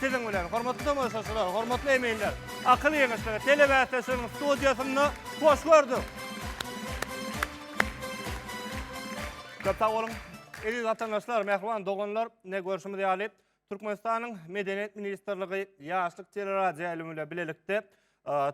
Siziň bilen, hormatly tomaşaçylar, hormatly eminler, Akyl ýeňişleri telebäsleşiginiň studiýasynda hoş gördük. Köp sag boluň. Eziz watandaşlar, mähriban doganlar, ine görşümiz ýaly, Türkmenistanyň Medeniýet ministrligi Ýaşlyk teleradioýaýlymy bilen bilelikde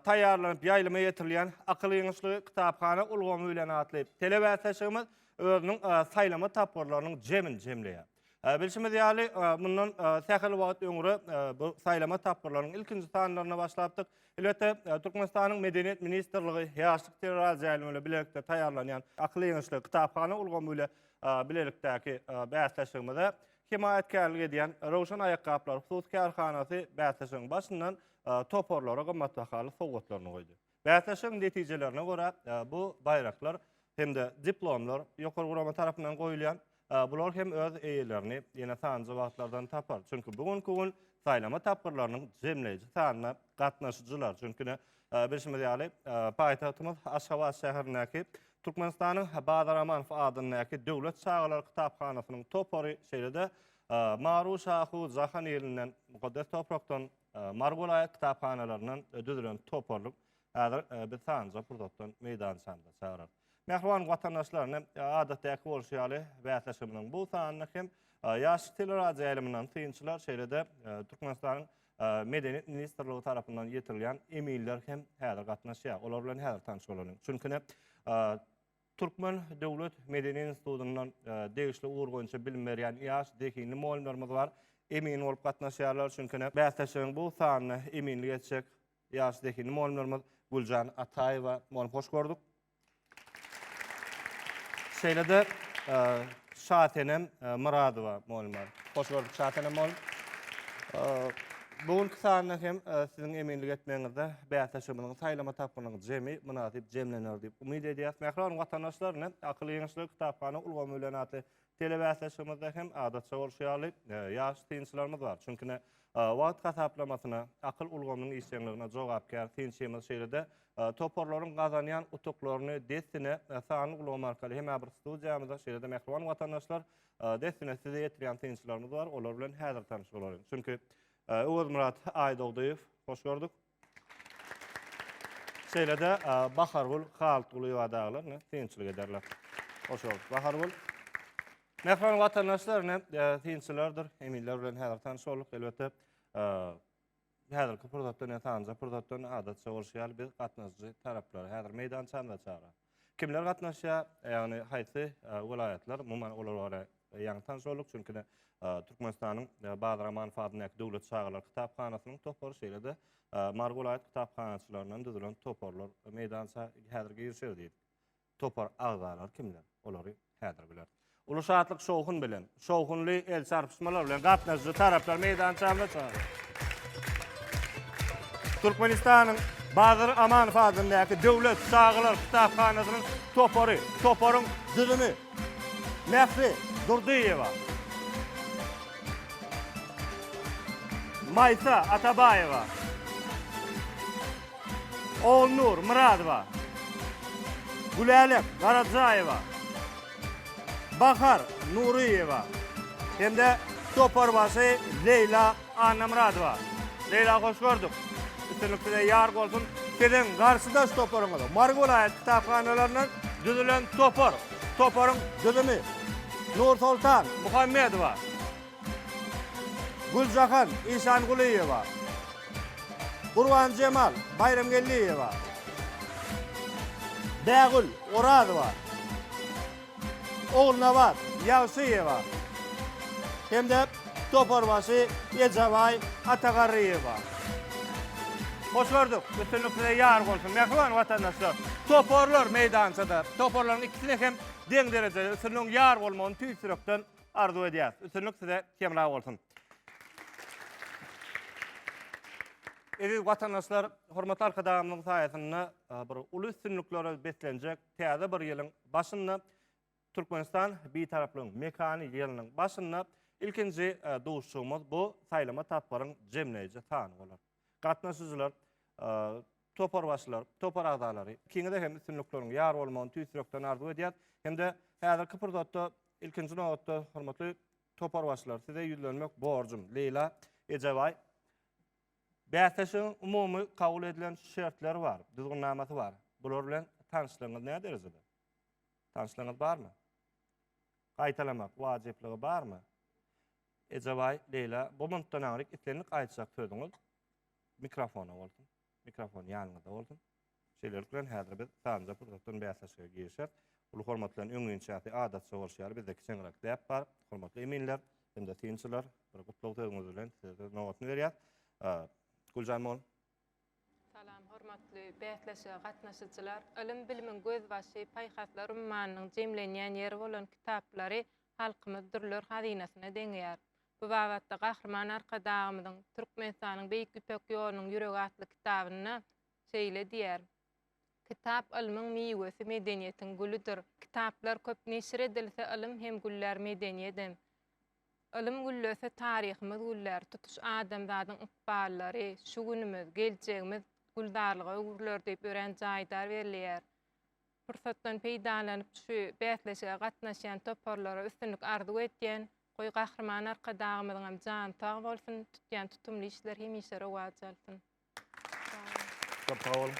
taýýarlanyp ýaýlyma ýetirilýän Akyl ýeňişleri, kitaphana ulgamy bilen atly telebäsleşigimiz özüniň saýlama tapgyrlarynyň jemini jemleýär. Ee, Bilşimiz ýaly, e, mundan e, sähel wagt öňre e, bu saýlama tapgyrlarynyň ilkinji sanlaryna başlapdyk. Elbetde, e, Türkmenistanyň Medeniýet ministrligi ýaşlyk teleraz jaýlary bilen bilelikde taýýarlanýan akyl ýeňişli kitaphana ulgamy bilen e, bilelikdäki e, bäsleşigimize hemaýatkärlik edýän Röwşen aýakgaplary hususy kärhanasy bäsleşigiň başyndan e, toparlara gymmatbahaly sowgatlaryny goýdy. Bäsleşigiň netijelerine görä, bu baýraklar hem-de diplomlar ýokary gurama tarapyndan goýulýar. Bular hem öz eýelerini ýene sanjy wagtlardan tapar. Çünki bu günki gün saýlama tapgyrlarynyň jemleýji sanyna gatnaşyjylar. Çünki bilşimiz ýaly, paýtagtymyz Aşgabat şäherindäki Türkmenistanyň Bazar Amanow adyndaky Döwlet çagalar kitaphanasynyň topary, şeýle-de Maru Şahu jahan ilinden, mukaddes toprakdan Mary welaýat kitaphanalaryndan düzülen toparlyk häzir biz sanjy pursatdan meýdançamyza çagyrarys. Mähriban watandaşlar, ine adatdäki bolşy ýaly bäsleşigimiziň bu sanyny hem ýaş teleradioýaýlymyndan synçylar, şeýle-de Türkmenistanyň Medeniýet ministrligi tarapyndan ýetirilýän eminler hem häzir gatnaşýar. Olar bilen häzir tanyş bolalyň. Çünki ine Türkmen döwlet medeni institutynda degişli ugur boýunça bilim berýän ýaş, zehinli mugallymlarymyz bar. Emin bolup gatnaşýarlar, çünki ine, bäsleşigiň bu sanyna eminlik etjek ýaş, zehinli mugallymlarymyz Güljan Ataýewa mugallym. Hoş gördük. Şeýle-de Şasenem Myradowa mugallym bar. Hoş gördük, Şasenem mugallym. Bu günki sanda hem siziň eminlik etmegiňizde bäsleşigimiziň saýlama tapgynyň jemi mynasyp jemlener diýip umyt edýäris. Mähriban watandaşlar, ine, Akyl ýeňişleri kitaphana ulgamy bilen atly telebäsleşigimizde hem adatça bolşy ýaly, ýaş synçylarymyz bar. Çünki, ine, wagt hasaplamasyna, akyl ulgamynyň işjeňligine jogapkär synçymyz, şeýle-de toparlaryň gazanýan utuklaryny dessine sanly ulgam arkaly hem-ä bir studiýamyza, şeýle-de, mähriban watandaşlar, Dessine size ýetirýän synçylarymyz bar, olar bilen häzir tanyş bolalyň. Çünki Öwezmyrat Aýdogdyýew, hoş gördük. Şeýle-de Bahargül Haltgulyýewa daglar, ine, synçylyk ederler. Hoş gördük, Bahargül. Mähriban watandaşlar, ine, synçylardyr, eminler bilen häzir tanyş bolduk. Elbetde, Häzirki pursatdan ýa sanjy pursatdan adatça bolşy ýaly biz gatnaşyjy taraplary häzir meýdançamyza çagyraýar. Kimler gatnaşýar? Ýagny haýsy welaýatlar? Umuman olar bara ýaňy tanyş bolduk. Çünki-de Türkmenistanyň Badyr Amanow adyndaky döwlet çagalar kitaphanasynyň topary şeýle-de Mary welaýat kitaphanaçylaryndan düzülen toparlar meýdança häzir girişer diýdik. Topar agzalary kimler? Olary häzir bileris. Uly şatlyk-şowhun bilen, şowhunly el çarpyşmalar bilen gatnaşyjy taraplar meýdançamyza çagyrýarys. Türkmenistanyň Badyr Amanov adyndaky döwlet çagalar kitaphanasynyň topary, toparyň düzümi Mähri Durdyýewa, Maýsa Atabaýewa, Ogulnur Myradowa, Gülälek Garajaýewa, Bahar Nuryýewa hem-de toparbaşy Leýla Annamyradowa. Leýla hoş gördük. Üstünlik size ýar bolsun. Siziň garşydaş toparyňyz Mary welaýat kitaphanalaryndan düzülen topar. Toparyň düzümi Nursoltan Muhammedowa. Güljahan Işangulyýewa, Gurbanjemal Baýramgeldiýewa, Bägül Orazowa, Ogulnabat Ýagşyýewa hem-de toparbaşy Ejabaý Atagarryýewa. Hoş gördük. Üstünlik size ýar bolsun, mähriban watandaşlar! Toparlar meýdançada. Toparlaryň ikisine hem deň derejede üstünligiň ýar bolmagyny tüýs ýürekden arzuw edýäs. Üstünlik size hemra bolsun. Eziz watandaşlar, hormatly Arkadagymyzyň saýasynda e, bir uly üstünliklere beslenjek täze bir ýylyň başynda Türkmenistan bitaraplygyň mekany ýylynyň başynda ilkinji e, duşuşygymyz bu saýlama tapgyryň jemleýji sany bolar. Gatnaşyjylar, toparbaşylar, topar agzalary, ikiňize hem üstünlikleriň ýar bolmagyny tüýs ýürekden arzuw edýäs. Hem-de häzirki pursatda, ilkinji nobatda, hormatly toparbaşylar, size ýüzlenmek borjum. Leýla Ejebaý. Bäsleşigiň umumy kabul edilen şertleri bar, düzgünnamasy bar. Bular bilen tanyşlygyňyz näderejede? Tanyşlygyňyz barmy? Gaýtalamak wajyplygy barmy? Ejebaý Leýla, bu mintden aňryk islendik aýtjak sözüňiz mikrofona bolsun. Mikrofon ýanyňyzda bolsun. Şeýlelik bilen, häzir biz sanjy pursatdan bäsleşige girişýäs. Uly hormat bilen, öňinçäsi adatça bolşy ýaly, bizde kiçeň rak däp bar. Hormatly eminler hem-de synçylar, bir gutlag sözüňiz bilen size söz nobatyny berýäs. Güljan mugallym, Salam, hormatly bäsleşige gatnaşyjylar! Ylym-bilimiň gözbaşy, paýhaslar ummanynyň jemlenýän ýeri bolan kitaplary halkymyz dürler hazynasyna deňeýär. Bu babatda Gahryman Arkadagymyzyň Türkmenistanyň Beýik Ýüpek ýolunyň ýüregi atly kitabynda şeýle diýýär, Kitap ylmyň miwesi, medeniýetiň gülidir. Kitaplar köp neşir edilse, ylym hem güllär, medeniýedem. Ylym güllese taryhymyz güller, tutuş adamzadyň ykballary, şu günümiz, geljegimiz gülzarlyga öwrüler diýip örän jaýdar belleýär. Pursatdan peýdalanyp şu bäsleşige gatnaşýan toparlara üstünlik arzuw edýän, goý Gahryman Arkadagymyzyňam jany sag bolsun, tutýan tutumly işler hemişe rowaç alsyn! Köp sag boluň.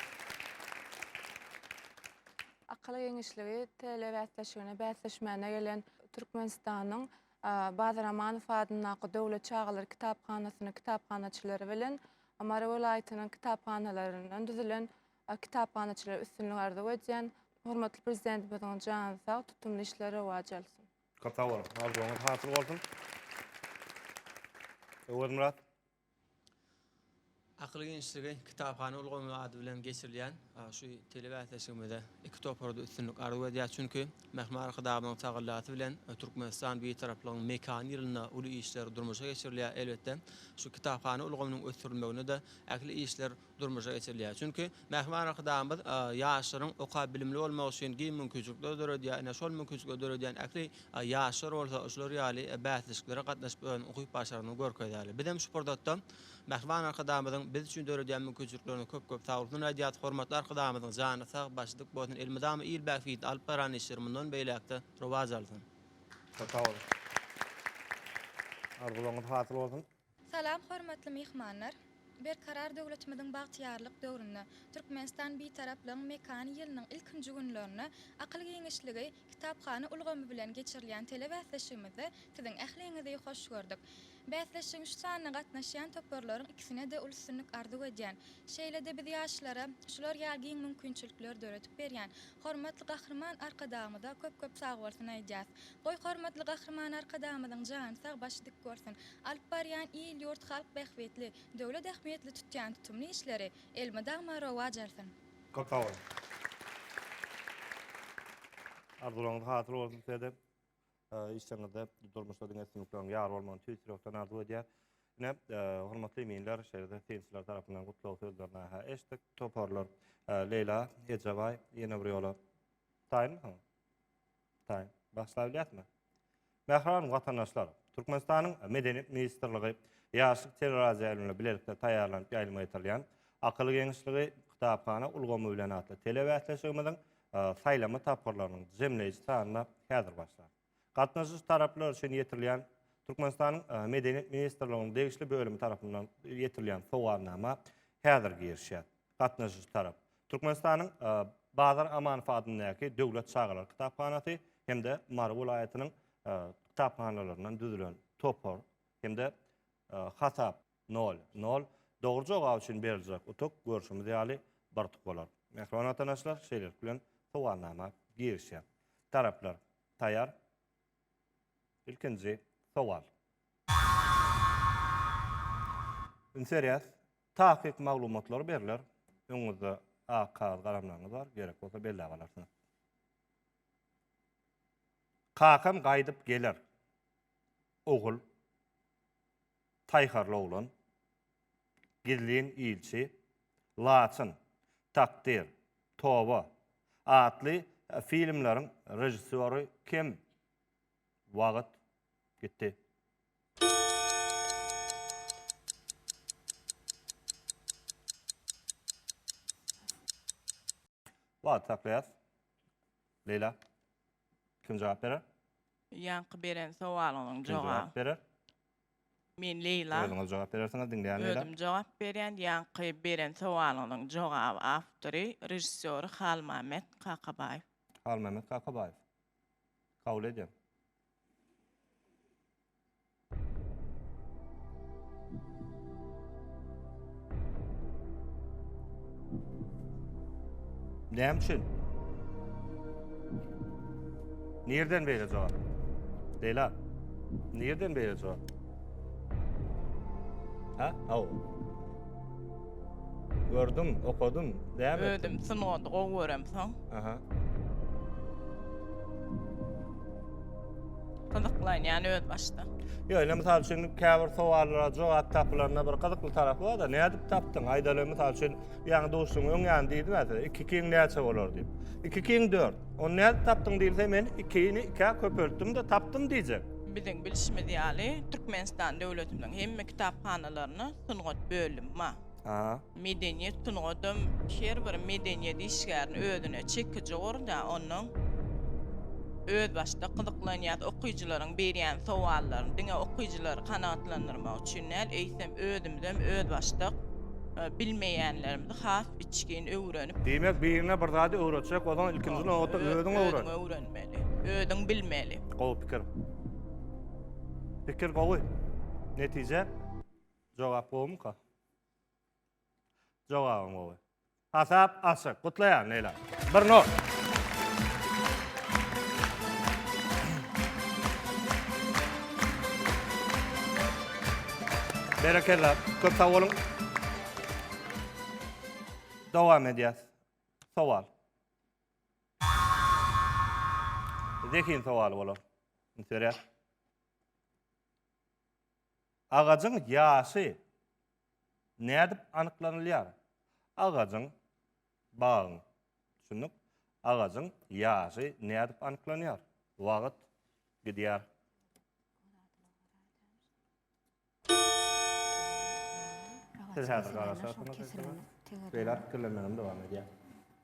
Akyl geňeşligi TL bäsleşigine bäsleşmäne gelen Türkmenistanyň Bazar Amanow adyndaky döwlet çagalar kitaphanasynyň kitaphanaçylary bilen Mary welaýatynyň kitaphanalaryndan düzülen kitaphanaçylara üstünlik arzuw edýän. Hormatly Prezidentimiziň jany sag, tutumly işler rowaç alsyn. Köp sag boluň. Arzuwyňyz hasyl bolsun. Öwezmyrat, Akyl genişligi kitaphana ulgamy ady bilen geçirilýän şu telebäsleşigimize iki topar-da üstünlik arzuw edýäris, çünki Mähme Arkadagymyzyň tagallasy bilen Türkmenistan Bitaraplygyň mekany ýylynda uly işler durmuşa geçirilýär. Elbetde, şu kitaphana ulgamynyň ösdürilmeginde-de ähli işler durmuşa geçirilýär. Çünki Mähriban Arkadagymyz ýaşlaryň okap bilimli bolmagy üçin giň mümkinçilikler döredýär. Ine, şol mümkinçilikleri döredýän ähli ýaşlar bolsa şular ýaly bäsleşiklere gatnaşyp özüniň ukyp-başarnygyny görkezýärler. Biz hem şu pursatda Mähriban Arkadagymyzyň biz üçin döredýän mümkinçiliklerine köp-köp sagbulsun aýdýarys. Hormatly Arkadagymyzyň jany sag, başy dik bolsun, elmydama il bähbidine alyp baran işleri mundan beýläk-de rowaç alsyn! Köp sag boluň. Arzuwlaryňyz hasyl bolsun! Salam hormatly myhmanlar! Berkarar döwletimiziň bagtyýarlyk döwründe, Türkmenistan Bitaraplygyň mekany ýylynyň ilkinji günlerinde akyl giňişligi kitaphana ulgamy bilen geçirilýän telebäsleşigimizde siziň ähliňizi hoş gördük. Bäsleşigiň şu sanyna gatnaşýan toparlaryň ikisine-de uly üstünlik arzuw edýän. Şeýle-de biz ýaşlara şular ýaly giň mümkinçilikleri döredip berýän Hormatly Gahryman Arkadagymyza köp köp sagbolsun aýdýas. Goý Hormatly Gahryman Arkadagymyzyň jany sag başy dik bolsun. Alyp barýan il ýurt halk bähbitli, döwlet ähmiýetli tutýan tutumly işleri elmydama rowaç alsyn. Köp sag boluň. Arzularyňyz hasyl bolsun sizede. Işleriňizde, durmuşda diňe üstünlikleriň ýar bolmagyny tüýs ýürekden arzuw edýäs. Ine, hormatly eminler, şeýle-de synçylar tarapyndan gutlag sözlerini-hä eşitdik. Toparlar, Leýla Ejebaý, ýene bir ýola taýynmysyň? Taýyn. Bagşlaýbilýäsmi? Mähriban watandaşlar, Türkmenistanyň Medeniýet ministrligi Ýaşlyk teleradioýaýlymy bilen bilelikde taýýarlanyp ýaýlyma ýetirilýän Akyl geňişligi, kitaphana ulgamy bilen atly telebäsleşigimiziň saýlama tapgyrlarynyň jemleýji sanyna häzir başlar. Gatnaşyjy taraplar üçin ýetirilýän Türkmenistanyň Medeniýet ministrliginiň degişli bölümi tarapyndan ýetirilýän sowalnama häzir girişýär. Gatnaşyjy tarap Türkmenistanyň Bazar Amanow adyndaky Döwlet çagalar kitaphanasy hem-de Mary welaýatynyň kitaphanalaryndan düzülen topar hem-de hasap Nol. Nol. Dogry jogap üçin beriljek utuk görşümiz ýaly bir utuk bolar. Mähriban watanaşlar, şeýlelik bilen sowalnama girişýär. Taraplar taýar. Ilkinji sowal. Üns berýäs. Takyk maglumatlar berler. Öňüňizde ak kagyz galamlaryňyz bar, gerek bolsa belläp alarsyňyz. Kakam gaýdyp geler. Ogul. Taýharly oglan, gizlin ilçi, Laçyn, Takdyr, Toba atly filmleriň režissýory kim? Wagt gitdi. Wagty saklaýas. Leýla, kim jogap berer? Ýaňky beren sowalyňyzyň Kim jogap jogaby. berer? Men Leýla. Özüňiz jogap berersiňiz, diňleýän Leýla. Özüm jogap berýän. Ýaňky beren sowalyňyzyň jogaby, awtory, režissýory Halmämmet Kakabaýew. Halmämmet Kakabaýew. Kabul edýän. Näme üçin? Nereden beýle jogap? Bela. Nereden beýle jogap? Ha? Aw. Gördüm, okudum, däme. Ödüm sungat gowy göremsoň. Aha. Gyzyklan yani öz başda. Yo, ine misal üçin käbir sowallara jogap tapylanda bir gyzykly tarapy bar da, nädip tapdyň? Aýdaly misal üçin, ýaňy duşuň öň ýany diýdim ä size, 2 kiň näçe bolar diýip. 2 kiň 4. Ony nädip tapdyň diýilse, men 2-ni 2-ä köpeltdim-de tapdym diýjek. Biziň bilşimiz ýaly, Türkmenistan döwletiniň hemme kitaphanalaryna sungat bölümi bar. Aha. Medeniýet sungadam her bir medeniýet işgärini özüne çekiji gorda, ondan özbaşdak gyzyklanýas. Okyjylaryň berýän sowallaryny diňe okyjylary kanagatlandyrmak üçin däl, eýsem özümizem özbaşdak bilmeýänlerimizi has içgin öwrenip. Diýmek, biriňe bir zady öwretjek bolsaň, ilkinji nobatda özüň öwren. Özüň öwrenmeli, özüň bilmeli. Gowy pikir. Pikir gowy. Netije? Jogap gowumyka? Jogabyň gowy. Hasap açyk. Gutlaýan Leýla. 1-0. Berekella. Köp sag boluň. Dowam edýäs. Sowal. Zehin sowaly bolar. Üns berýär. Agajyň ýaşy nädip anyklanylýar? Agajyň, bagyň, düşündik, agajyň ýaşy nädip anyklanýar? Wagt gidýär. Siz häzir garaşarsyňyz. Beýläk pikirlenmegem dowam edýär.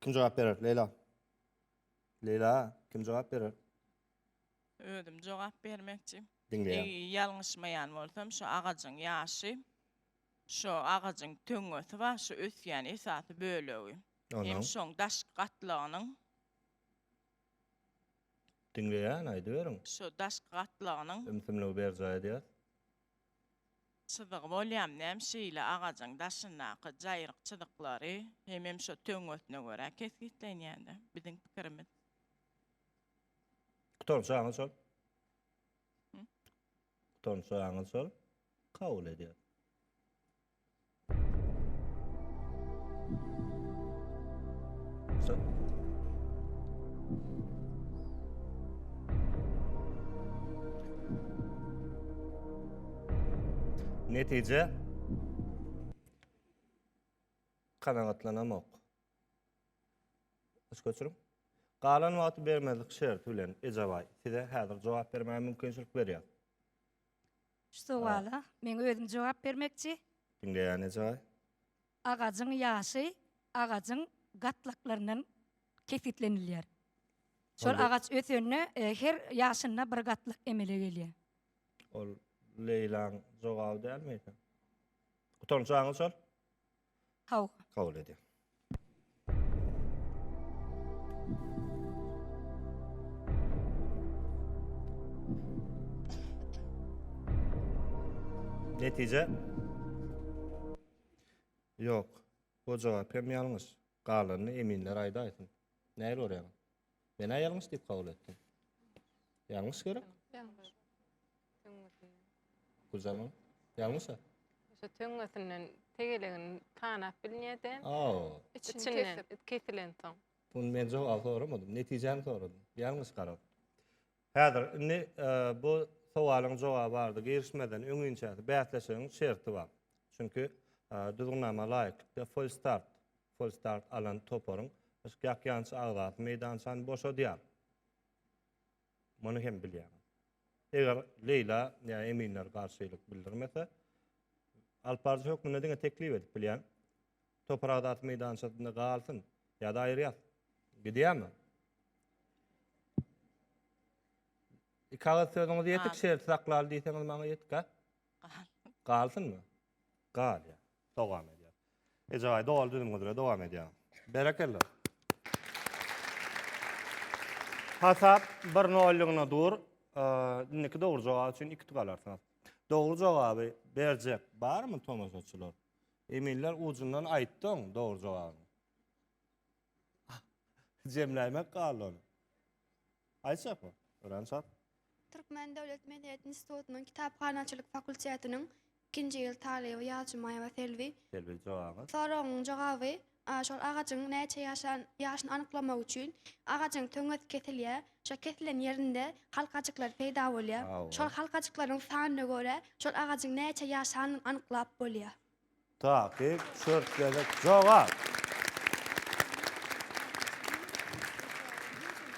Kim jogap berer, Leýla? Leýla, kim jogap berer? Özüm jogap bermekçi. Diňleýän. Eý, ýalňyşmaýan bolsam, şu agajyň ýaşy, şu agajyň töňňesi bar, şu ösýän esasy bölegi. Onuň. Hem şoň daşky gatlagynyň. Diňleýän, aýdyberiň. Şu daşky gatlagynyň. Ümsümligi berjaý edýär. Çyzygy bolýam näm şeýle agajyň daşyndaky jaýryk çyzyklary hemem şo töňňesine görä kesgitlenýändä biziň pikirimiz. Gutarnjy aňyr şol. Gutarnjy aňyr şol. Kabul edýäs. Netije kanagatlanamok. Üç göçürüm. Galan wagty bermezlik şerti bilen Ejabaý size häzir jogap bermäge mümkinçilik berýär. Şu sowala men özüm jogap bermekçi. Diňleýän ejaý. Agajyň ýaşy agajyň gatlaklaryndan kesgitlenilýär. Şol agaç ösende her ýaşynda bir gatlak emele gelýär. Ol Leýlaň jogaby dälmi? Utanjaňyz şol. Hawa. Kabul edýän. Netije? Ýok. Bu jogap hem ýalňyş. Galanyny eminler aýdaýsyn. Nähili görýäňiz? Men-ä ýalňyş diýip kabul etdim. Ýalňyş gerek? Ýalňyş. Töňňesinden. Güljaman, ýalňyş-a? Şo töňňesinden tegelegini tanap bilnede. Aw. Içinden kesilensoň. Muny men jogap soramadym, netijäni soradym. Ýalňyş garap. Häzir, indi bu sowalyň jogaby arda girişmezden öň inçäsi bäsleşigiň şerti bar. Çünki Düzgünnama laýyklykda Full Start, Full Start alan toparyň ýakýançy agzasy meýdançany boşadýar. Muny hem bilýäňiz. Eger Leýla ýa eminler garşylyk bildirmese, alyp baryjy hökmünde diňe teklip edip bilýän. Topar adatly meýdançasynda galsyn. Ýa-da aýyrýas. Gidýärmi? Iki agyz sözüňiz ýetik, Gal. şerti saklaly diýseňiz maňa ýetik, ha? Gal. Galsynmy? Gal ya. Dogam edýär. Ejebaý doly düzüm üzre dogam edýär. Berekella. Hasap 1-0 ýygyna dur. Eee, Indiki dogry jogap üçin iki utuk alarsyňyz. Dogry jogaby berjek barmy tomaşaçylar? Eminler ujundan aýtdyň dogry jogaby. Jemläýmek galdy ony. Aýtjakmy? Örän çalt. Türkmen döwlet medeniýet institutynyň kitaphanaçylyk fakultetiniň ikinji ýyl talyby Ýalçymaýewa Selbi. Selbi jogabyňyz. Soragyň jogaby, şol agajyň näçe ýaşan ýaşyny anyklamak üçin agajyň töňňesi kesilýär. Şo kesilen ýerinde halkajyklar peýda bolýar. Şol halkajyklaryň sanyna görä şol agajyň näçe ýaşanyny anyklap bolýar. Takyk, çört gezek jogap.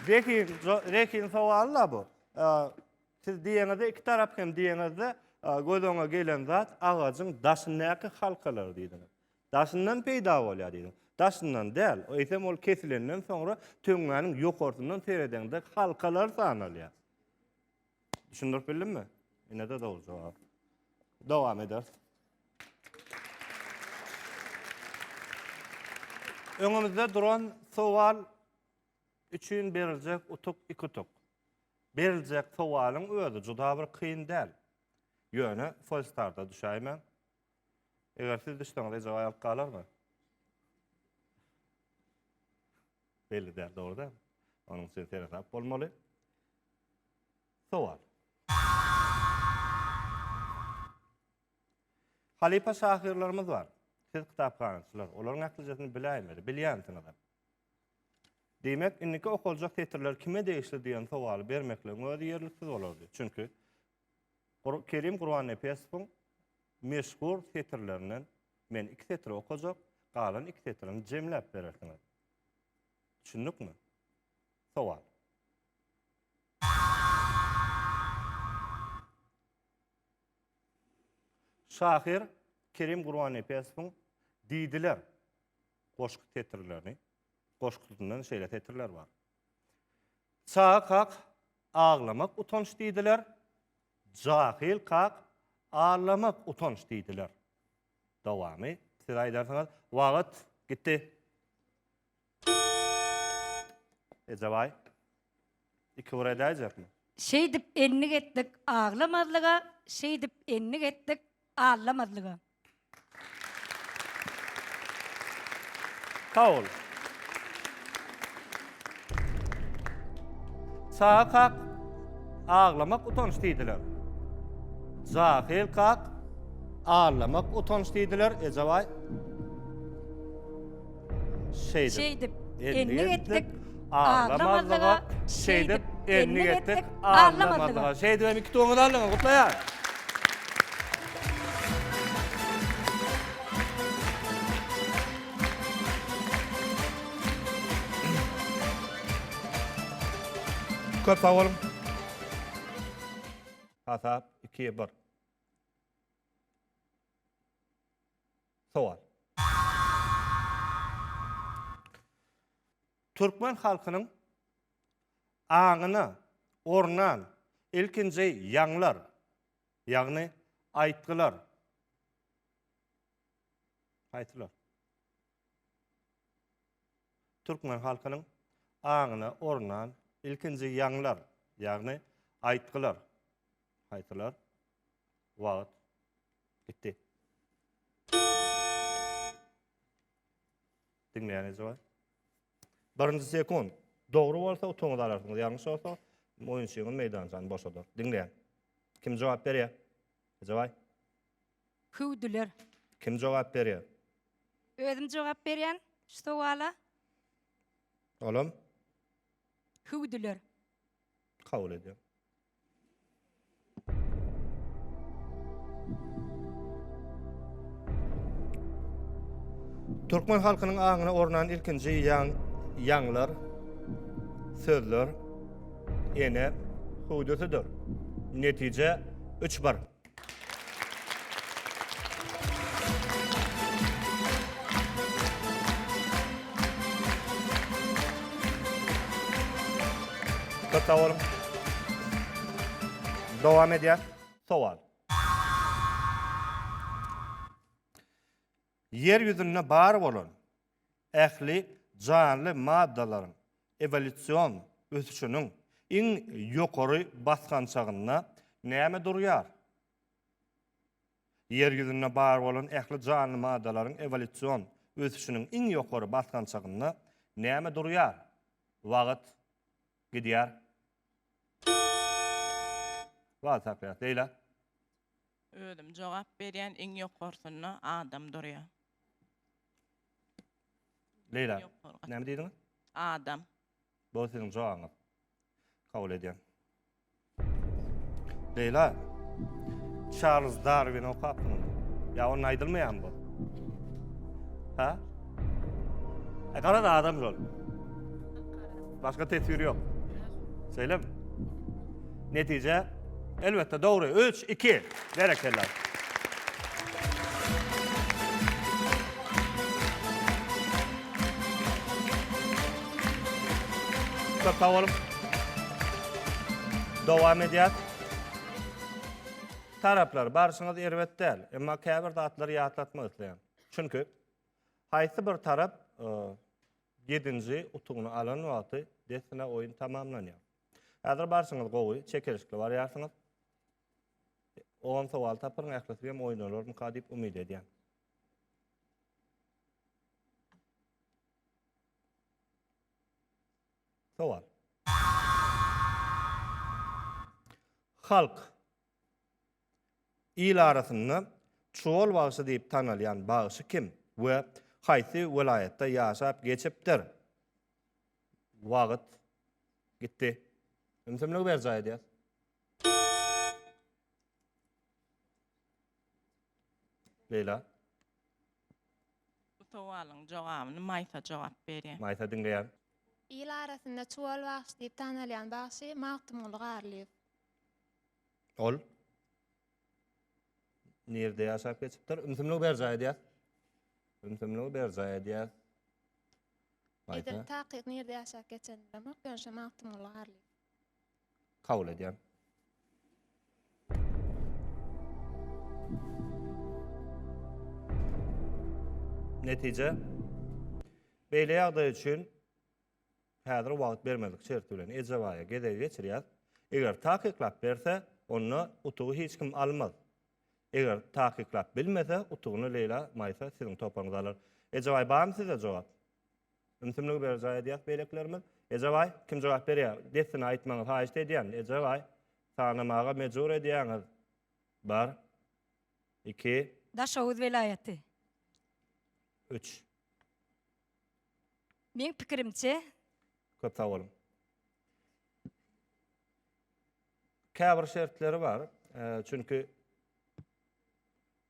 Zehin, zehin sowal-la bu. Siz diýeňizde iki tarap hem diýeňizde göz öňe gelen zat agajyň daşyndaky halkalar diýdiňiz. Daşyndan peýda bolýar diýdim. Daşyndan däl, eýsem ol kesilenden soňra töňňäniň ýokarsyndan seredeňde halkalar sanalýar. Düşündirip bildimmi? Ine-de dogry jogap. Dowam ederis. Öňümizde duran sowal üçin beriljek utuk iki utuk. Beriljek sowalyň özi juda bir kyn däl. Ýöne Folstarda düşäýmäň. Eger siz düşseňiz eje aýalyk galarmy? Belli däl, dogry däl. Onuň üçin seresap bolmaly. Sowal. Halypa şahyrlarymyz bar. Siz kitaphanaçylar, olaryň ählijesini biläýmeli, bilýänsiňizem. Diýmek, indiki okaljak setirler kime degişli diýen sowaly bermekligiň özi ýerliksiz bolardy. Çünki Kerim Gurbannepesowyň meşhur setirlerinden men iki setiri okajak, galan iki setirini jemläp berersiňiz. Düşündikmi? Sowal. Şahyr Kerim Gurbannepesowyň Diýdiler goşgy setirlerini, goşgusyndan şeýle setirler bar. Çaga kak, Aglamak utanç diýdiler. Jahyl kak, Allamak utanç diýdiler. Dowamy siz aýdarsyňyz. Wagt gitdi. Ejebaý. Iki bir edäýjekmi? Şeýdip endik etdik aglamazlyga, şeýdip endik etdik allamazlyga. Sag bol. Çaga kak, aglamak utanç diýdiler. Jahyl kak, Aglamak utanç diýdiler, Ejebaý. Şeýdip, endik etdik, aglamazlyga, şeýdip, endik etdik, aglamazlyga. Şeýdip hem iki tuguňyzy aldyňyz, gutlaýarys. Köp sag boluň. Hasap, iki, bir. Sowal. Türkmen halkynyň aňyna ornan ilkinji ýaňlar, ýagny aýtgylar haýsylar? Türkmen halkynyň aňyna ornan ilkinji ýaňlar, ýagny aýtgylar. Haýsylar? Wagt gitdi. Diňleýän eje bar. Birinji sekund. Dogry bolsa utuňyzy alarsyňyz, ýalňyş bolsa oýunçyňyz meýdançany boşadar. Diňleýän. Kim jogap berýär? Eje baý. Hüwdüler. Kim jogap berýär? Özüm jogap berýän şu sowala. Olam Hüwdüler. kabul edýär. Türkmen halkynyň aňyna ornan ilkinji ýaň, ýaňlar, sözler, ene, hüwdüsidir. Netije, üç bir. Köp sag boluň. Dowam edýäs. Sowal. Ýer ýüzünde bar bolan ähli janly maddalaryň ewolýusion ösüşiniň iň ýokary basgançagynda näme durýar? Ýer ýüzünde bar bolan ähli janly maddalaryň ewolýusion ösüşiniň iň ýokary basgançagynda näme durýar? Wagt gidýär. Wagt akýar. Leýla. Özüm jogap berýän iň ýokarsynda adam durýa. Leýla näme diýdiňiz? Adam. Bu siziň jogabyňyz. Kabul edýän. Leýla. Charles Darwin okapmy? Ya onun aýdylmaýan bu. Ha? E garaz adam şol. Başga teswir yok. Şeýlem. Netije elbetde dogry. 3 2. Berekella. Köp sag boluň. Dowam edýär. Taraplar, barşyňyz erbet däl. Emma käbir zatlary ýatlatmak isleýän. Çünki haýsy bir tarap e, Ýedinji utugyny alan wagty dessine oýun tamamlanýar. Häzir barşyňyz gowy, çekeleşikli barýarsyňyz. On sowal tapyryň, ählisi hem oýnalarmyka diýip umyt edýän. Sowal. Halk Il arasynda Çuwal bagşy diýip tanalýan bagşy kim we haýsy welaýatda ýaşap geçipdir? Wagt gitdi. Ümsümligi berjaý edýäs. Leýla. Bu sowalyň jogabyny Maýsa jogap berýär. Maýsa diňleýär. Il arasynda Çuwal bagşy diýip tanalýan bagşy Magtymguly Garlyýew. Ol nirde ýaşap geçipdir? Ümsümligi berjaý edýär. Ümsümligi berjaý edýär. Edil takyk nirde ýaşap geçen bilemok, ýöne şo Magtymguly Garlyýew. Kabul edýär. Netije. Beýle ýagdaý üçin Häzir wagt bermezlik şerti bilen Ejebaýa gezegi geçirýäs. Eger takyklap berse, onda utugy hiç kim almaz. Eger takyklap bilmese, utugyny Leýla Maýsa siziň toparyňyz alar. Ejebaý barmy sizde jogap? Ümsümligi berjaý edýäs beýlekilerimiz. Ejebaý, kim jogap berýär? Dessine aýtmaňyz haýyşt edýän. Ejebaý, sanamaga mejbur edýäňiz. Bir. Iki. Daşoguz welaýaty. Üç. Meň pikirimçe. Köp sag boluň. Käbir şertleri bar. Çünki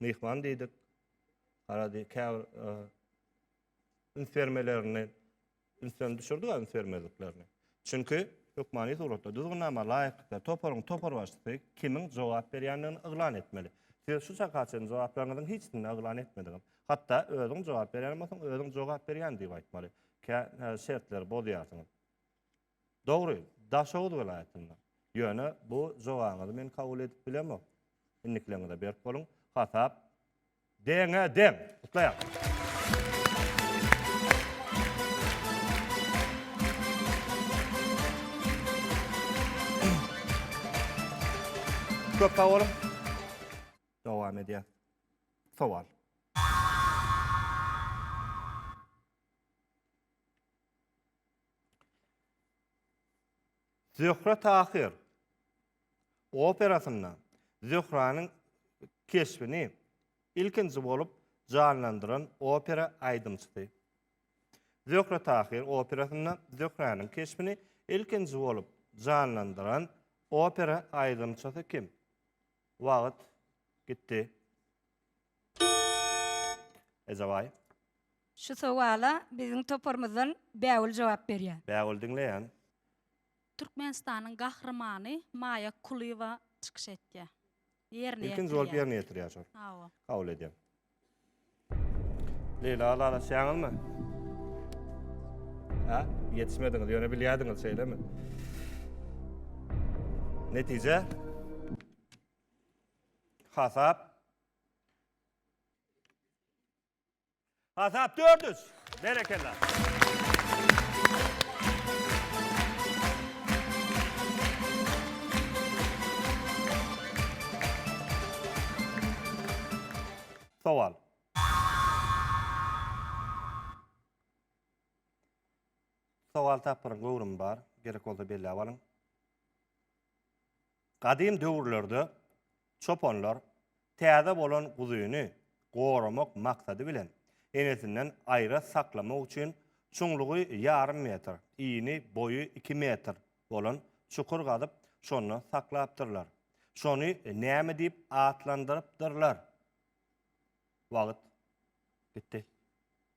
myhman diýdik. Arady käbir üns bermelerini ünsden düşürdik üns bermezliklerini. Çünki, hökmany suratda, düzgünnama laýyklykda toparyň toparbaşysy kimiň jogap berýändigini yglan etmeli. Siz şu çaka çenli jogaplaryňyzyň hiçisini yglan etmediňiz. Hatda, özüň jogap berýän bolsaň, özüň jogap berýän diýip aýtmaly. Kä şertleri bozýarsyňyz. Dogry, Daşoguz welaýatynda. Ýöne, bu jogabyňyzy men kabul edip bilemok. Indikileriňize berk boluň. Hasap. Deňe deň. Gutlaýan. Köp sag boluň. Dowam edýär. Sowal. Zöhre Tahyr operasynda Zöhranyň keşbini ilkinji bolup janlandyran opera aýdymçysy. Zöhre Tahyr operasynda Zöhranyň keşbini ilkinji bolup janlandyran opera aýdymçysy kim? Wagt gitdi. Ejabaý. Şu sowala biziň toparymyzdan Bägül jogap berýär. Bägül diňleýän. Türkmenistanyň Gahrymany Maýa Kulyýewa çykyş etýär. Ýerine ýetirýär. Ilkinji bolup ýerine ýetirýär şol. Hawa. Kabul edýän. Leýla lalaçýaňyzmy? Hä? Ýetişmediňiz, ýöne bilýärdiňiz, şeýlemi? Netije? Hasap? Hasap 400. Berekella. Sowal. Sowal tapgyryň göwrümi bar. Gerek bolsa belläp alyň. Gadym döwürlerde çopanlar täze bolan guzyny goramak maksady bilen enesinden aýra saklamak üçin çuňlugy ýarym metr, ini, boýy iki metr bolan çukur gazyp, şonda saklapdyrlar. Şony näme diýip atlandyrypdyrlar? Wagt gitdi.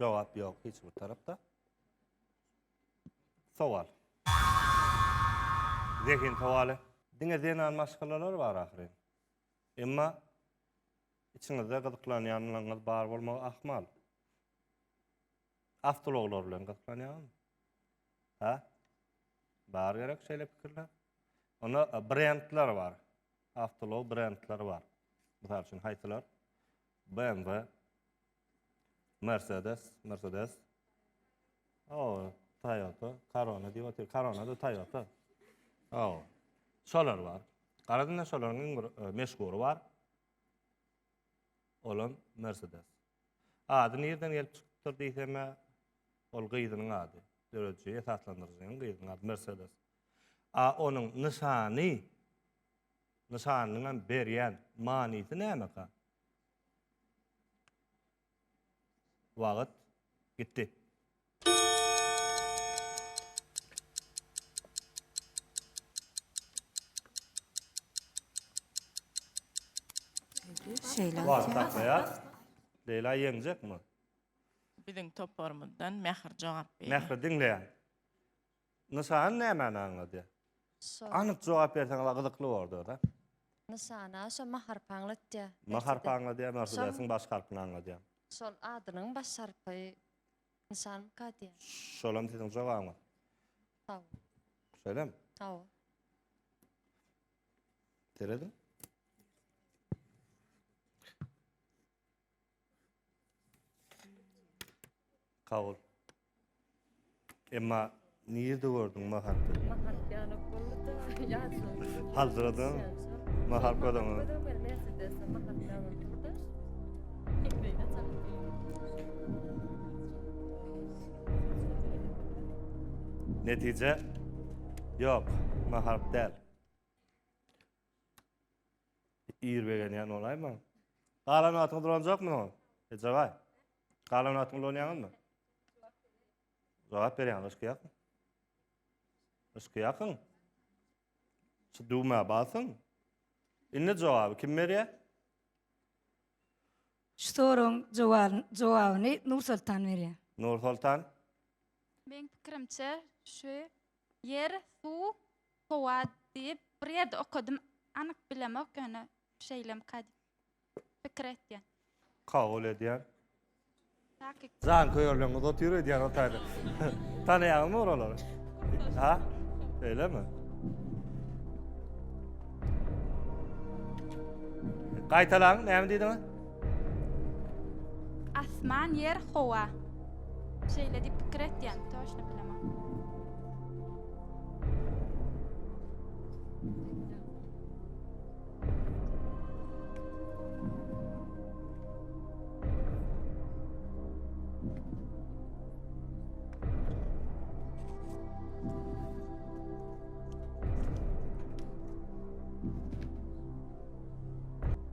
Jogap ýok hiç bir tarapda. Sowal. Zehin sowaly. Diňe zenan maşgalalar bar ahyryn. Emma içiňizde gyzyklanýanlaryňyz bar bolmagy ahmal. Awtologlar bilen gyzyklanýaňyzmy? Ha? Bar gerek şeýle pikirler. Onda e, brendler bar. Awtolog brendleri bar. Mysal üçin haýsylar? BMW, Mercedes, Mercedes. O, Toyota, Corona diýip otyr. Corona da Toyota. O. Şolar bar. Garadynda şolaryň iň bir e, meşgury bar. Olam Mercedes. Ady nirden gelip çykypdyr diýsem-ä, ol gyzynyň ady. Dörediji, esaslandyryjynyň gyzynyň ady Mersedes. A onuň nyşany, nyşanynyňam berýän manysy nämeka? Wagyt gitdi. Şeýle. Wah, taklaýar. Leýla ýeňjekmi? Biziň toparymyzdan Mähir jogap berýär. Mähri diňleýän. Nyşan nämäni aňladýar? Şo. Anyk jogap berseňiz gyzykly bordy da. Nyşana şo maharpy aňlatýa. Maharpy aňladýa, Mersedesiň baş harpyny aňladýa. Şol adynyň baş harpy nyşan kadýa. Şolam siziň jogabyňyz. Haw. Şeýlem. Haw. Teredi. Kabul. Emma nirde gördüň mahatda? Mahat ýanyp boldy. Ýaşyň. Haldyradan mahal gödüňi. Netije? Yok, maharp del. Ir begenýän bolaýma. Galan wagtyňy dolanjakmy oňa? Ejebaý. Galan wagtyňy dolanýaňyzmy? Jogap berýän ýakyn. Yşky ýakyn. Şu düwmä basyň. Indi jogaby kim berýär? Şu soragyň jogabyny, jogabyny Nur Soltan berýär. Nur Soltan. Meň pikirimçe şu Ýer, suw, howa diýip bir ýerde okadym. Anyk bilemok, ýöne şeýlemka diýip pikir etýän. Kabul edýän. Takyk. Janköýerleriňiz otyr öýdýän o taýda. Tanaýaňyzmy oralary? Ha? Şeýlemi? Gaýtalaň, näme diýdiňiz? Asman, ýer, howa. Şeýle diýip pikir etýän, toşna bilemok.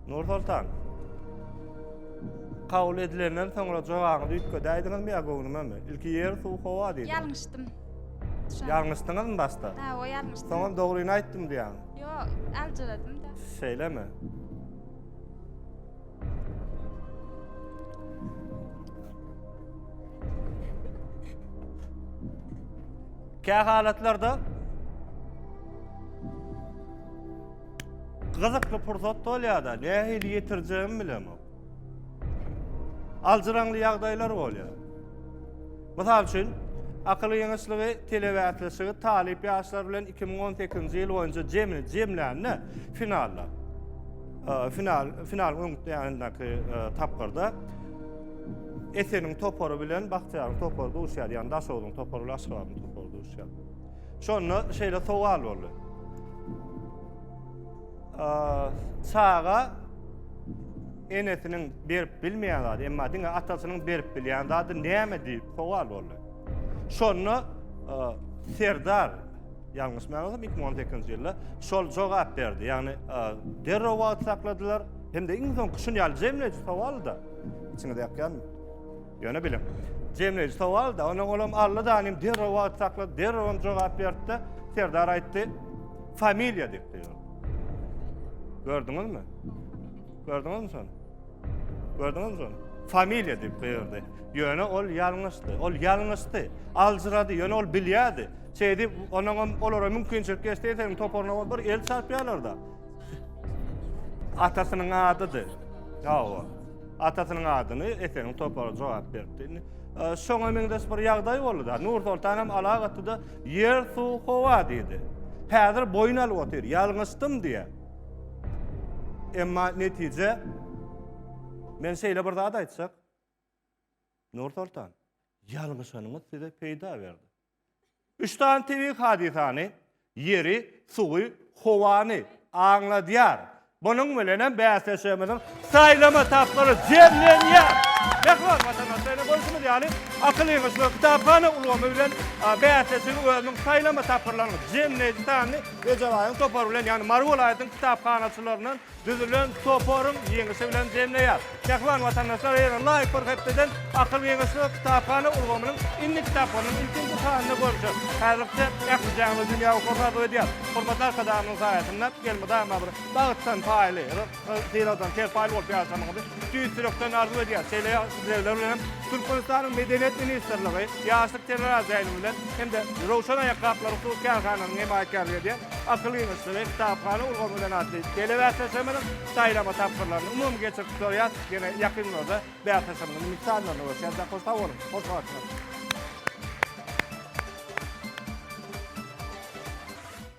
Nursoltan. Kabul edilenden soňra jogaňyzy üýtgedäýdiňizmi ýa göwnümemi? Ilki ýer, suw, howa diýdim. Ýalňyşdym. Ýalňyşdyňyzmy başda? Ha, o ýalňyşdym. Soňam dogryny aýtdym diýýäň. Ýok, aljyradym da. Şeýlemi? Kä halatlarda Gyzykly pursat bolýar-da, nähili ýetirjegimi bilemok. Aljyraňly ýagdaýlar bolýar. Mysal üçin, akyl ýeňişligi, telebäsleşigi talyp ýaşlar bilen 2018-nji ýyl boýunça jemi jemlände finalda. Final final öňütdäki tapgyrda Eseniň topary bilen Bagtyýaryň topary duşýar, ýagny Daşoguzyň topary bilen Aşgabadyň topary duşýar. Şonda şeýle sowal boldy. Çaga enesiniň berip bilmeýän zady, emma diňe atasynyň berip bilýän zady näme diýip sowal boldy. Şonda Serdar ýalňyş mäňizim 2018-nji ýylda şol jogap berdi. Ýagny derrew wagt sakladylar. Hem-de iň soňky şuny ýaly jemleýji sowal-da. Içiňize ýakýanmy? Ýöne biliň, jemleýji sowal-da, onda olam Alla danym derrew wagt saklady, derrewem jogap berdi-de, Serdar aýtdy, familiýa diýipdi. Gördüňizmi? Gördüňizmi şony? Gördüňizmi şony? Familiýa diýip goýardy. Ýöne ol ýalňyşdy. Ol ýalňyşdy. Aljyrady. Ýöne ol bilýärdi. Şeýdip, onuň hem olara mümkinçilik geçse, seň toparyna ol bir el çarpýarlar-da. Atasynyň adydy. Hawa. Atasynyň adyny Eseniň topary jogap beripdi. Indi e, şoňa meňzeş bir ýagdaý boldy da. Nur Soltan hem alag atdy-da, ýer, suw, howa diýdi. Häzir boýun alyp otyr, ýalňyşdym diýýär. Emma netije men şeýle bir zat aýtjak. Nur Soltan, ýalňyşanyňyz size peýda berdi. Üç sany tebigy hadysany, ýeri, suwy, howany, aňladýar. Munuň bilen hem bäsleşigimiziň saýlama tapgyry jemlenýär. Mähriban watandaşlar, ine görşüňiz ýaly, Akyl ýygyş we kitaphana ulgamy bilen bäsleşigiň özüniň saýlama tapgyrlarynyň jemleýji sanyny Ejebaýyň topary bilen, ýagny Mary welaýatynyň kitaphanaçylaryndan düzülen toparyň ýeňişi bilen jemleýär. Mähriban watandaşlar eger laýyk bir hepdeden Akyl geňeşligi kitaphana ulgamynyň indi kitaplarynyň ilkinji sanyny görjek. Häzirlikçe ähli janly dünýä okaryn arzuw edýär. Hormatly Arkadagymyzyň saýasynda elmydama bir bagtdan paýly, syladan serpaýly bolup ýaşamagyňyzy, Tüýs ýürekden arzuw edýäs, şeýle islegler bilen hem Türkmenistanyň Medeniýet ministrligi Ýaşlyk teleradioýuny bilen hem-de Röwşen aýakgaplaryň hukuk kärhanasynyň hemaýatkärlik edýän Akyl ýygyşdygy, kitaphana ulgamy bilen atly telebäsleşigimiziň saýlama tapgyrlaryny umumy geçirip gutarýas. Ýene ýakyn günlerde bäsleşigimiziň iňki sanlaryna görüşýäs. Ýa-da hoş sag boluň, hoş garaşyň.